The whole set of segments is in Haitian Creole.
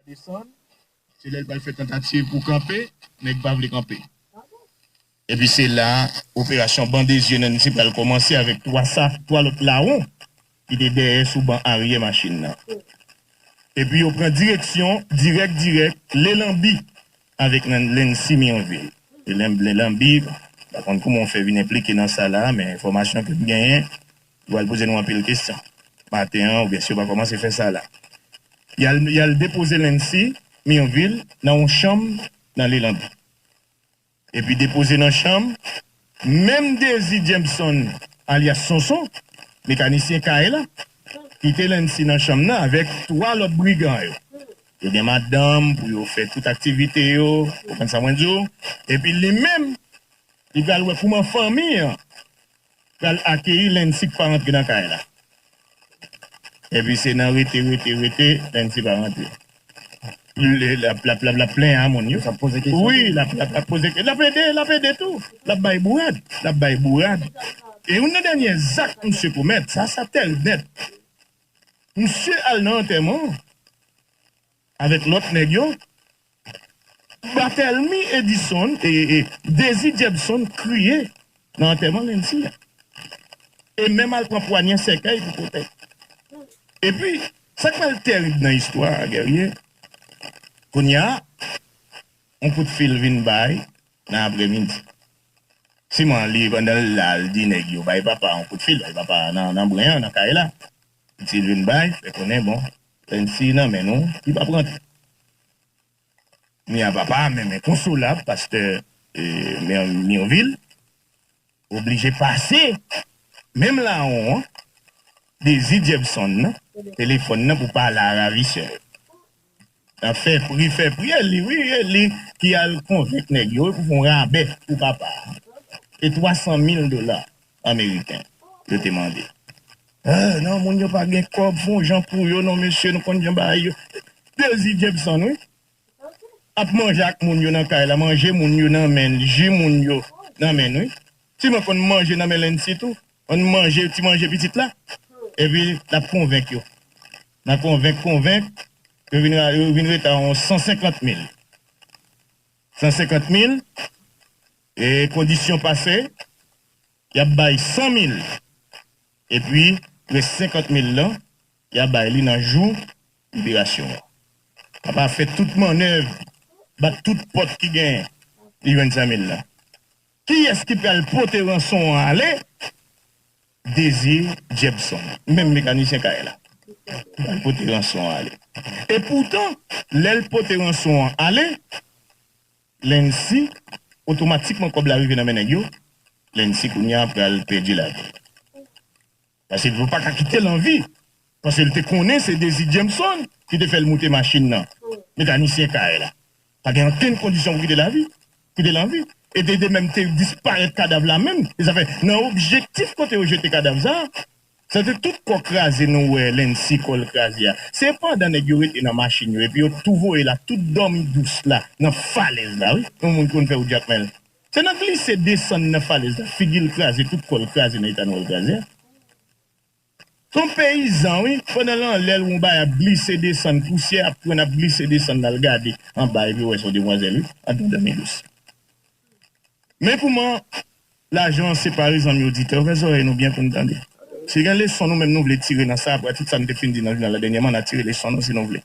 desann se lèl pral fè tantativ pou kanpe nèg pa vle kanpe epi se la operasyon bande zye Nancy pral kòmanse avèk 3 sa 3 lòt lawon ki te dèyè sou ban aryè machin nan epi yo pran direksyon dirèk dirèk le lanbi avèk Nancy Mirvil le lanbi pa konn kouman ou fè vin enplike nan sa la men enfòmasyon kem genyen. Yo pral poze nou anpil kesyon maten an oubyen si yo pa kòmanse fè sa la. Y al depoze Lancy Mirvil nan yon chanm nan Lelande. Epi depoze nan chanm menm Dezi Jameson alyas Sonson, mekanisyen kay la, kite Lancy nan chanm nan avèk 3 lòt brigan yo. Yo gen madanm pou yo fè tout aktivite yo, konprann sa mwen di w. Epi li menm, li pral wè kouman fanmi an pral akeyi Lency k pa rantre nan kay la epi se nan rete rete rete Lency pa rantre lap plenyen a moun yo wi lap poze kesyon lap ede lap ede tou lap bay bourad lap bay bourad e youn nan dènyè zak misye komèt sa sa tèl nèt misye al nan antèman Avèk lòt nèg yo, Barthelmy Edison e Désir Jebson kriye nan antèman Nancy a e menm al pran pwanyè sèkèy pou pote. Epi, sa k pral terib nan istwa a, Guerrier, kounye a, yon kout fil vin bay nan apremidi. Siman li pandan l la l di nèg yo, Bay papa a yon kout fil, bay papa a nan bren an, nan kay la. Pitit vin bay, fè konnen bon, lè n siy nan men nou, li pap rantre. Kounya papa a menm enkonsolab, pastè Mirvil oblije pase menm lawon an, dezi Jepson nan, telefòn nan pou pale a ravisè yo. Nap fè pri fè pri e li wi e li ki al konvenk nèg yo pou fon rabè pou papa a e 300 mil dola ameriken yo te mande ahh nan moun yo pa gen kòb fon jan pou yo non mesye nou konn jan bagay yo dezi jepson wi ap manje ak moun yo nan kay la manje moun yo nan menl ji moun yo nan menl wi ti mwen konn manje nan men lènsi tou an manje ti manje pitit la epi lap konvenk yo. Nan konvenk konvenk, yo vin ra yo vin reta yon 150 mil. 150 mil, e kondisyon pase, y ap bay 100 mil. Epi, rès 50 mil lan, y a bay li nan jou liberasyon an. Papa fè tout mannèv, bat tout pòt ki genyen, li jwenn 100 mil lan. Kiyès ki pral pote ranson an ale? Désir Jepson, menm mekanisyen kay la, pral pote ranson an ale. Epoutan, lè l pote ranson an ale, Lency, otomatikman kòb la rive nan men nèg yo, Lency kounye a pral pèdi lavi l. Paske yo paka kite l anvi. Paske l te konnen se Dezi Jameson ki te fè l moute machin nan. Mekanisyen kay la. Pa gen ankenn kondisyon pou kite l avi. Kite l anvi. E te de menm te disparèt kadav la menm. E sa fè nan objektif kote yo jete kadav sa. Sa te tout kò kraze nou wè Lency kò l kraze a. Se pandan nèg yo rete nan machin yo epi yo tou voye l ak tout dòmi dous la nan falèz la wi. Yon moun ki konn fè ou djak men l. Se nan glise desann nan falèz la figi l kraze tout kò l kraze nan eta nwa l kraze a. S on peyizan wi, pandan l anlè l wè on bagay ap glise desann, pousyè ap pran l ap glise desann l al gade anba epi l wè s on demwazèl wi, andan dòmi dous. Men kouman lajan an separe zanmi oditè, ouvè zòrèy nou byen pou n tande. Si gen leson nou menm nou vle tire nan sa, apati sa n te fin di nan jounal la dènyèman, n a tire leson nou si nou vle.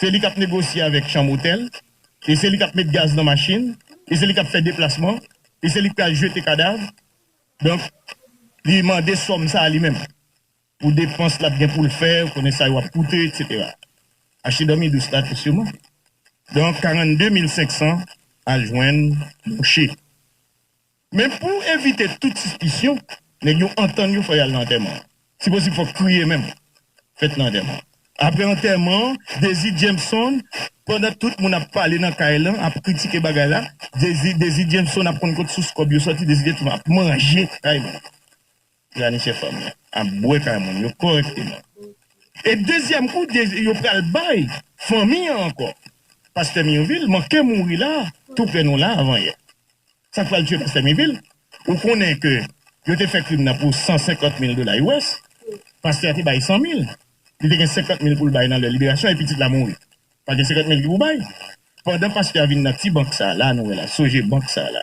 Se li k ap negosye avèk chanm otèl, e se li k ap met gaz nan machin, e se li k ap fè deplasman, e se li k pral jete kadav. Donk, li mande sòm sa a li menm pou depans l ap gen pou l fè, ou konnen sa yo ap koute, eksetera. Achte dòmi dous la tou siman. Donk, 42 mil 500 al jwenn mouche. Men pou evite tout sispisyon, nèg yo antann yo fò y al nan antèman an. Si posib fòk kriye menm fèt nan antèman an. Aprè antèman an, Dezi Djemson, pandan tout moun ap pale nan kay lan, ap kritike bagay la, Dezi Dezi Djemson ap konn kot sous kòb yo sòti, Dezi Djemson ap manje kay moun. Pranisyen fanm nan ap bwè kay moun yo kòrèkteman. E dezyèm kou yo pral bay fanmi an ankò. Pastè Mirvil manke mouri la tou prè nou la avan yè. Sak pral tye pastè Mirvil ou konnen ke yo te fè krim nan pou 150 mil dola US. Pastè a te bay 100 mil. Li te gen 50 mil poul bay nan lè liberasyon e pitit la mouri. Pa gen 50 mil ki pou bay. Pandan pastè a vin nan ti bank sa la nou wè la soje bank sa la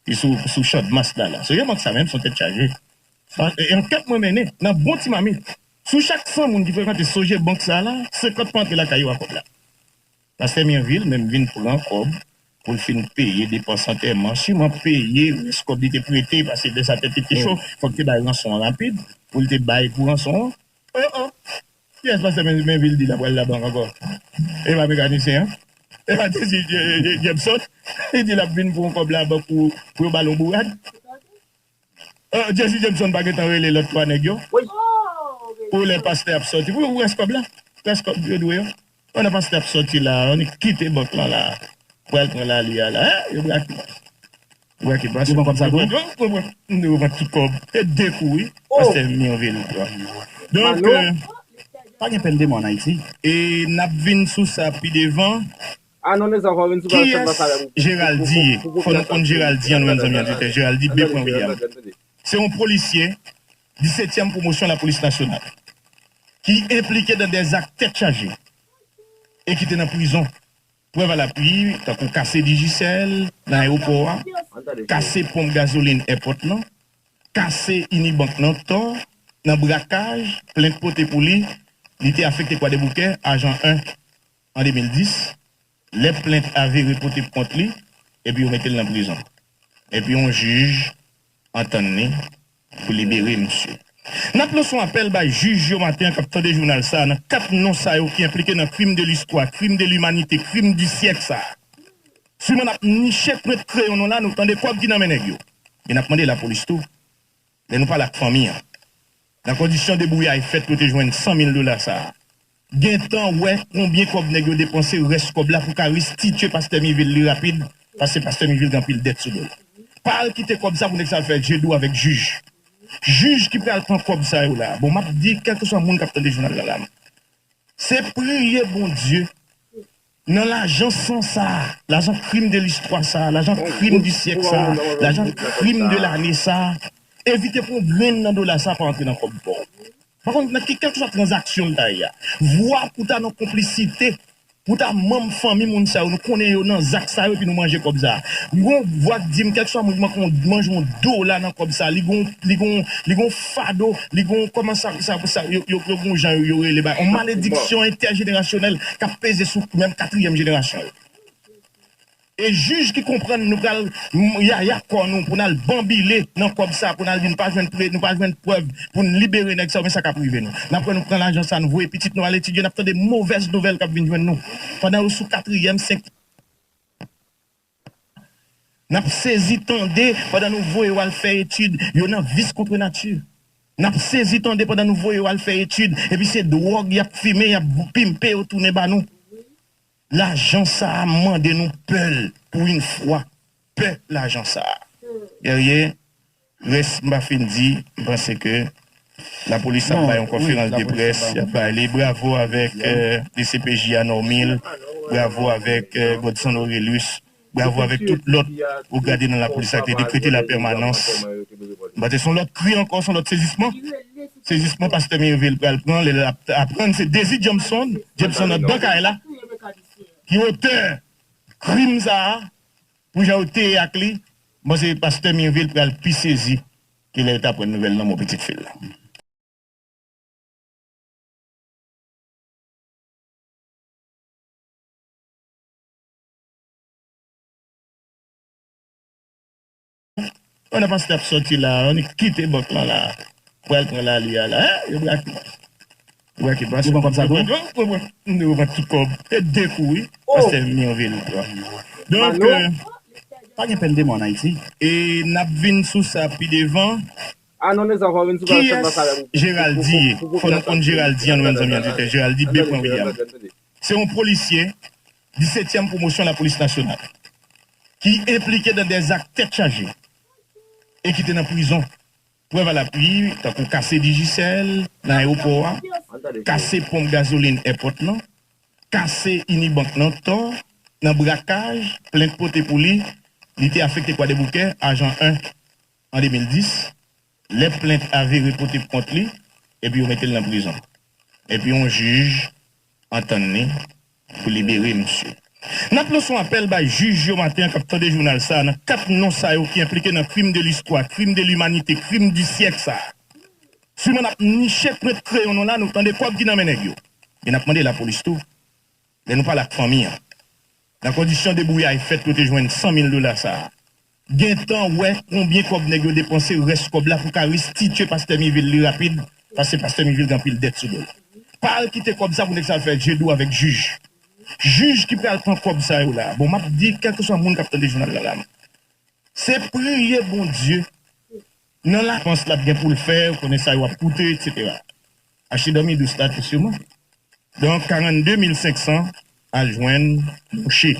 ki sou sou chandmas la la soje bank sa menm son tèt chaje e ankèt mwen mennen nan bon ti mamit sou chak 100 moun ki frekante soje bank sa la 50 pa antre lakay yo a kòb la pastè Mirvil menm vin pran kòb pou l fin peye depans antèman siman peye rès kòb li te prete pase lè sa tèt li te cho fòk te bay ranson an rapid pou l te bay pou ranson an. Kiyès pastè Mainville di la pral labank ankò? E pa mekanisyen an? E pa te di Jepson li di lap vin pou yon kòb labank pou yo bal yon bourad? Jezi Jepson pa gentan rele lòt 3 nèg yo pou lè pastè ap sòti pou rès kòb la? Rès kòb yo dwe yo? Pandan pastè ap sòti la a, annik kite bank lan la a. Ou pral pran lali a la a. Yo brake. Yo brake pastè. Yo pran kòb sa tou? Yo pran. Yo pran tout kòb. Se de kou wi. Pastè Mirvil pran. Donk. Pa gen pèn de mò an Ayiti. E n ap vin sou sa pi devan. A non mezanmi fò w vin sou sa sèlman sa lè pou pou. Kiyès Geraldi ye? Fò nou konn Geraldi an nou menm zanmi oditè. Geraldi B. William. Se yon polisye Disetyèm pwomosyon lapolis nasyonal ki enplike nan 2 zak tèt chaje e ki te nan prizon. Prèv a lapwi tankou kase Digicel nan ayewopò a, kase ponp gazolin èpòt lan, kase Inibank nan Tò, nan brakaj, plent pote pou li, li te afekte Kwadèboukè, Ajan 1, an 2010. Lè plent a vire pote pou kont li, epi yo mete l nan prizon. Epi yon jij antann li pou libere misye. N ap lanse yon apèl bay jij yo maten an k ap tande jounal sa a nan 4 non sa yo ki enplike nan krim de listwa, krim de limanite, krim di syèk sa a. Siman n ap niche prent kreyon nou la, nou tande kòb ki nan men nèg yo. E n ap mande lapolis tou, lè nou pale ak fanmi an, nan kondisyon debouyay fèt pou yo te jwenn 100 mil dola sa a, Gentan wè konbyen kòb nèg yo depanse rès kòb la pou ka restitye pastè mivil li rapid paske pastè mivil gen anpil dèt sou dol pa al kite kòb sa pou nèg sa al fè je dou avèk jij jij ki pral pran kòb sa yo la bon map di kèlkeswa moun kap tande jounal la la m se priye bondye Nan lajan san sa a, lajan krim de listwa sa a, lajan krim di syèk sa a, lajan krim de lane sa a, evite pou yon grenn nan dola sa a pa antre nan kòb pa w. Pa konn nan ki kèlkeswa tranzaksyon l ta ye a, vwa pou ta nan konplisite, pou ta manm fanmi moun sa yo, nou konnen yo nan zak sa yo epi nou manje kòb sa a. M gen yon vwa k di m kèlkeswa moun ki manke yon, manje yon dola nan kòb sa a, li gen yon, li gen yon, li gen yon. fado li gen yon kòman sa sa sa yo yo gen yon jan yo rele bagay yon malediksyon entèjenerasyonèl k ap peze sou menm katriyèm jenerasyon yo e jij ki konprann nou pral yaya kò nou pou n al banbile nan kòb sa pou n al di nou pa jwenn pre nou pa jwenn prèv pou n libere nèg sa yo men sa k ap rive nou n ap wè nou pran lajan sa nou voye pitit nou al etidye n ap tande movèz nouvèl k ap vin jwenn nou pandan yo sou katriyèm senk Nap sezi tande pandan nou voye yo al fè etid yo nan vis kontre nati. Nap sezi tande pandan nou voye yo al fè etid epi se dwòg yap fimen yap pimpe yo tounen ba nou. Lajan sa a m mande nou pè l pou yn fwa. Pè lajan sa a. Guerrier. Rès m pa fin di, m panse ke lapolis ap bay yon konferans de près, y ap bay li, bravo avèk dcpj a Normil, bravo avèk Godson Orelus, bravo avèk tout lòt ou gade nan lapolis la ki te dekrete la pèmanans, m panse se yon lòt kri ankò, se yon lòt sezisman, sezisman pastè Mirville pral pran lè l ap aprann se Désir Jampson, Jameson andan kay la, ki otè krim sa a. Pou jan yo te ye ak li, m panse pastè Mirville pral pi sezi ke lè l t aprann nouvèl lanmò pitit fi l lan. Pandan Pastè ap sòti la a, annik kite bank lan la a pou al pran lali a la a. Yo brake Pastè. Yo brake Pastè. Yo pran kòb sa tou? Yo pran, yo pran tout kòb. E de kou wi. Pastè vini an vil. Donk. Pa gen pèn de mò ann Ayiti. E n ap vin sou sa pi devan. A non Nezan fò w vin sou bagay sèlman sa lè pou pou Jeraldi ye? Fò nou konn Jeraldi an nou menm zanmi an di tè. Jeraldi Bepran William. Se yon polisye Disetyèm pwomosyon lapolis nasyonal ki enplike nan 2 zak tèt chaje e ki te nan prizon. Prèv a lapwi tankou kase Digicel nan ayewopò a, kase ponp gazolin èpòt lan, kase Inibank nan tò, nan brakaj, plent pote pou li, li te afekte Kwadèboukè, Ajan 1, an 2010. Lè plent a vire pote pou kont li, epi yo mete l nan prizon. Epi yon jij antann li pou libere misye. N ap lanse yon apèl bay jij yo maten an k ap tande jounal sa a nan 4 non sa yo ki enplike nan krim de listwa, krim de limanite, krim di syèk sa a. Siman n ap niche prent kreyon nou la, nou tande kòb ki nan men nèg yo. E n ap mande lapolis tou, lè nou pale ak fanmi an, nan kondisyon debouyay fèt pou yo te jwenn 100 mil dola sa a, Gentan wè konbyen kòb nèg yo depanse rès kòb la pou ka restitye pastè mivil li rapid paske pastè mivil gen anpil dèt sou dol pa al kite kòb sa pou nèg sa al fè je dou avèk jij jij ki pral pran kòb sa yo la bon map di kèlkeswa moun kap tande jounal la la m se priye bondye nan lapans lap gen poul fè ou konnen sa yo ap koute etc achte dòmi dous la tou siman donk 42 mil 500 al jwenn mouche.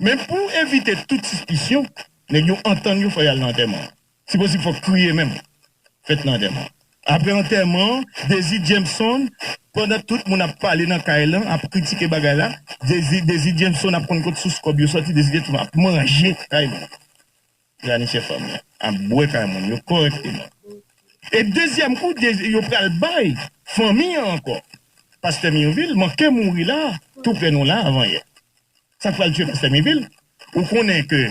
Men pou evite tout sispisyon, nèg yo antann yo fò y al nan antèman an. Si posib fòk kriye menm fèt nan antèman an. Aprè antèman an, Dezi Jameson, pandan tout moun ap pale nan kay lan, ap kritike bagay la, Dezi Dezi Jameson ap konn kot sous kòb yo sòti, Dezi Jameson ap manje kay moun. Planifier fanm nan ap bwè kay moun yo correctement e dezyèm kou yo pral bay fanmi an ankò pastè mirvil manke mouri la tou prè nou la avan yè sak pral tye pastè mirvil ou konnen ke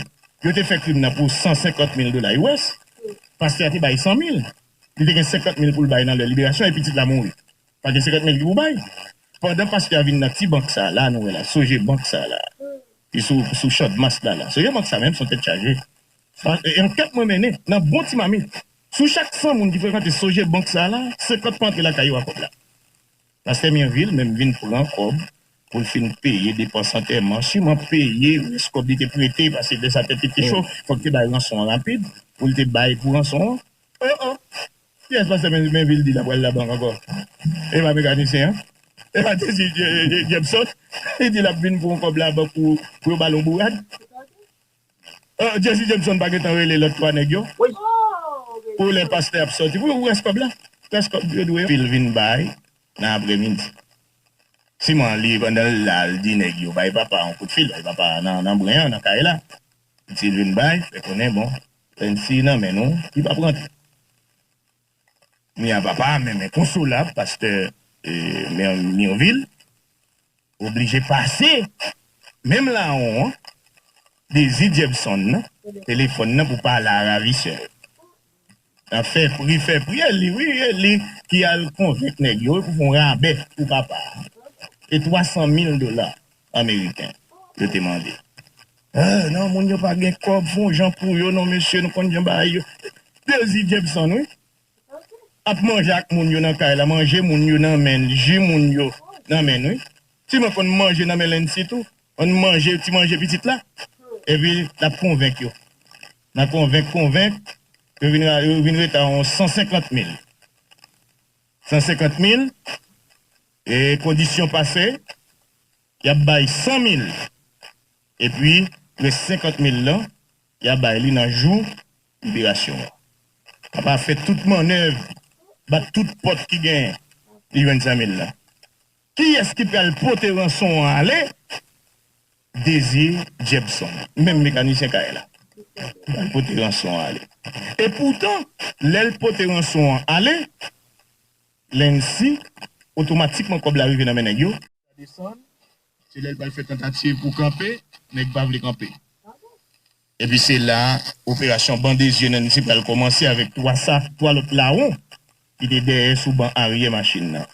yo te fè krim nan pou 150 mil dola us pastè a te bay 100 mil li te gen 50 mil poul bay nan lè liberasyon e pitit la mouri. Pa gen 50 mil ki pou bay. Pandan pastè a vin nan ti bank sa la nou wè la soje bank sa la ki sou sou chandmas la la soje bank sa menm son tèt chaje e ankèt mwen mennen nan bon ti mamit sou chak 100 moun ki frekante soje bank sa la 50 pa antre lakay yo a kòb la pastè Mirville menm vin pran kòb pou l fin peye depans antèman siman peye rès kòb li te prete pase lè sa tèt li te cho fòk te bay ranson an rapid pou l te bay pou ranson an o o. Kiyès pastè Mainville di la pral la bank ankò? E pa mekanisyen an? E pa Jezi Jepson? Li di lap vin pou yon kòb la bank pou yo bal yon bourad? Jezi Jepson pa gentan rele lòt 3 nèg yo pou lè pastè ap sòti pou rès kòb la? Rès kòb yo dwe fil vin bay nan aprè midi. Siman li pandan l la l di nèg yo bay papa yon kout fil, bay papa nan bren an nan kay la. Sil vin bay fè konnen bon Len si nan men nou li pap rantre. Kounya papa a menm enkonsolab pastè Mirvil oblije pase menm lawon an dezi Jepson nan telefòn nan pou pale a ravisè yo nan fè pri fè pri e li wi e li ki al konvenk nèg yo pou fon rabè pou papa a se 300 mil dola ameriken yo te mande. Ohh non moun yo pa gen kob fon jan pou yo non mesye nou konn jan bagay yo dezi jepson wi ap manje ak moun yo nan kay la manje moun yo nan menl ji moun yo nan menl wi ti mwen konn manje nan men Lency tou konn manje ti manje pitit la epi lap konvenk yo nan konvenk konvenk yo vin ra yo vin reta yon 150 mil 150 mil e kondisyon pase. Yap bay 100 mil epi rès 50 mil lan ya bay li nan jou liberasyon an. Papa fè tout mannèv, bat tout pòt ki genyen, li jwenn 100 mil lan. Kiyès ki pral pote ranson an ale? Desir Jepson, menm mekanisyen kay la, pral pote ranson an ale. E poutan, lè l pote ranson an ale, Lency, Otomatikman kòb la rive nan men nèg yo. Sa desann, se lè l pral fè tantativ pou kanpe, nèg pa vle kanpe. Epi se la operasyon bande zye Nancy pral kòmanse avèk 3 sa 3 lòt lawon ki te dèyè sou ban aryè machin nan.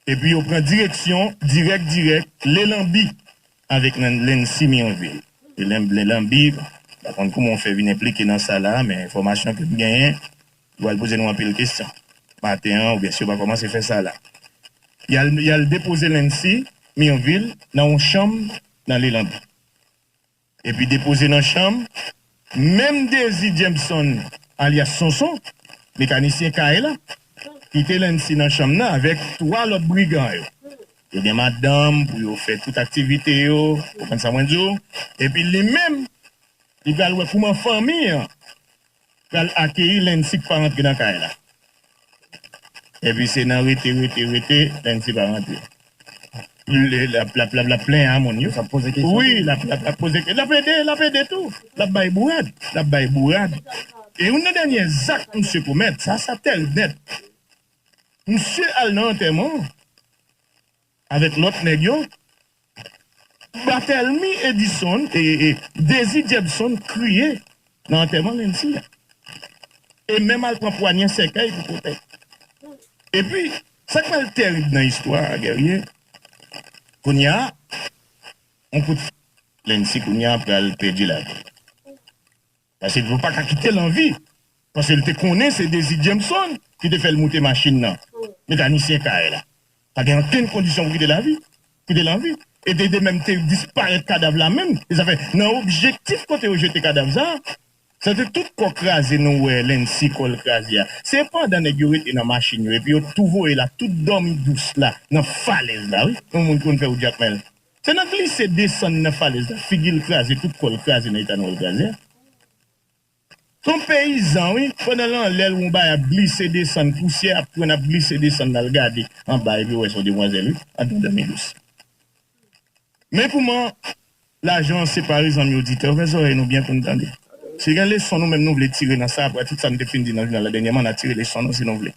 Epi yo pran direksyon dirèk dirèk Le Lanbi avèk Lency Mirvil. Le Lanbi, m pa konn kouman ou fè vin enplike nan sa la, men enfòmasyon ke m genyen, Yo al poze nou anpil kesyon maten an oubyen si yo pa kòmanse fè sa la. Y al depoze Lency Mirvil nan yon chanm nan Lelande. Epi depoze nan chanm menm Désir Jameson alyas Sonson, mekanisyen kay la, kite Lency nan chanm nan avèk 3 lòt brigan yo. Yo gen madanm pou yo fè tout aktivite yo, konprann sa mwen di w. Epi li menm, li pral wè kouman fanmi an. pral akeyi Lancy k pa rantre nan kay la epi se nan rete rete rete Lancy pa rantre lap lap lap lap plenyen a moun yo wi lap lap lap poze kesyon lap ede lap ede tou lap bay bourad lap bay bourad e youn nan dènyè zak misye komèt sa sa tèrib nèt misye al nan antèman Avèk lòt nèg yo, Barthelmy Edison e Désir Jebson kriye nan antèman Lency a e menm al pran pwanyè sèkèy pou pote. Epi, sa k pral terib nan istwa a, Guerrier, kounye a, on kout. Lency kounye a pral pèdi lavi l. Paske yo paka kite l anvi. Paske l te konnen se Dezi Jameson ki te fè l moute machin nan. Mekanisyen kay la. Pa gen ankenn kondisyon pou kite l avi. Kite l anvi. E te de menm te disparèt kadav la menm. E sa fè nan objektif kote yo jete kadav sa. Sa te tout kò kraze nou wè Lency kò l kraze a. Se pandan nèg yo rete nan machin yo epi yo tou voye l ak tout dòmi dous la nan falèz la wi. Yon moun ki konn fè ou djak men l. Se nan glise desann nan falèz la figi l kraze tout kò l kraze nan eta nwèl kraze a. S on peyizan wi, pandan l anlè l wè on bagay ap glise desann pousyè ap pran l ap glise desann l al gade anba epi w wè s on demwazèl wi andan dòmi dous. Men kouman lajan an separe zanmi oditè ouvè zòrèy nou byen pou n tande. Si gen leson nou menm nou vle tire nan sa a pratik sa n te fin di nan jounal la dènyèman n a tire leson nou si nou vle.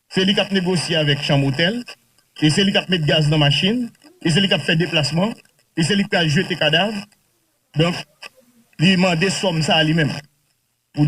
Se li k ap negosye avèk chanm otèl, e se li k ap met gaz nan machin, e se li k ap fè deplasman, e se li k pral jete kadav, donk li mande sòm sa a li menm pou.